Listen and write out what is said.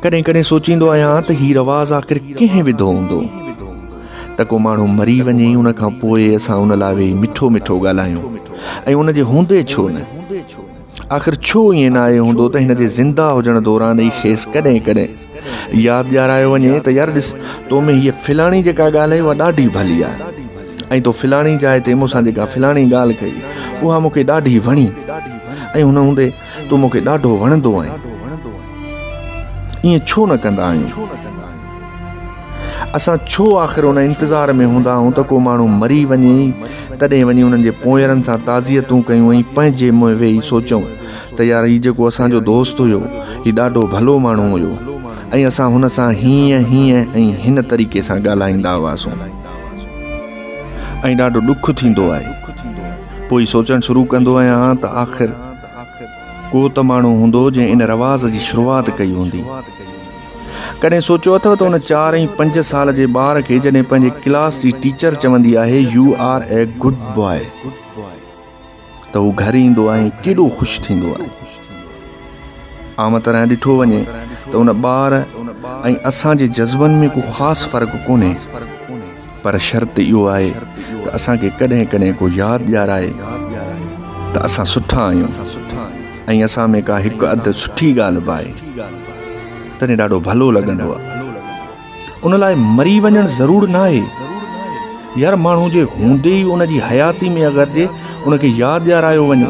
ڪڏهن ڪڏهن سوچيندو آهيان ته هي رواز آخر ڪنهن وڌو هوندو ته ڪو ماڻهو مري وڃي ان کان پوء اسان ان لاء ويهي مٺو مٺو ڳالهايون ۽ ان جي هوندي ڇو نه آخر ڇو ائين نه آيو هوندو ته هن جي زنده هجڻ دوران ئي کيس ڪڏهن ڪڏهن ياد ڏيارايو وڃي ته يار ڏس تو ۾ هيء فلاڻي جيڪا ڳالهه اها ڏاڍي ڀلي آهي ۽ تو فلاڻي جاء تي مون سان جيڪا فلاڻي ڳالهه ڪئي اها مون کي ڏاڍي وڻي ۽ هن هوندي تون مون کي ڏاڍو وڻندو آهين. ائين ڇو نه ڪندا آهيون؟ اسان ڇو آخر ان انتظار ۾ هوندا آهيون ته ڪو ماڻهو مري وڃي تڏهن وڃي انهن جي پونئيرن سان تعزيتون ڪيون ۽ پنهنجي منهن ويهي سوچيون ته يار هي جيڪو اسان جو دوست هيو هي ڏاڍو ڀلو ماڻهو هيو ۽ اسان هن سان هينئن هينئن ۽ هن طريقي سان ڳالهائيندا هئاسون ۽ ڏاڍو ڏک ٿيندو آهي پوء سوچڻ شروع ڪندو آهيان ته آخر ڪو ته ماڻهو هوندو جنهن ان رواز جي شروعات ڪئي هوندي. ڪڏهن سوچيو اٿو ته ان چار ۽ پنج سال جي ٻار کي جڏهن پنهنجي ڪلاس جي ٽيچر چوندي آهي you are a good boy ته هو گهر ايندو آهي ۽ ڪيڏو خوش ٿيندو آهي. عام طرح ڏٺو وڃي ته ان ٻار ۽ اسان جي جذبن ۾ ڪو خاص فرق ڪونهي. پر شرط اهو آهي ته اسان کي ڪڏهن ڪڏهن ڪو ياد ڏيارائي ته اسان سٺا آهيون ۽ اسان ۾ ڪا هڪ اڌ سٺي ڳالهه به آهي تڏهن ڏاڍو ڀلو لڳندو آهي ان لاء مري وڃڻ ضرور نه آهي يار ماڻهو جي هوندي ئي ان جي حياتي ۾ اگر جي ان کي ياد ڏيارايو وڃي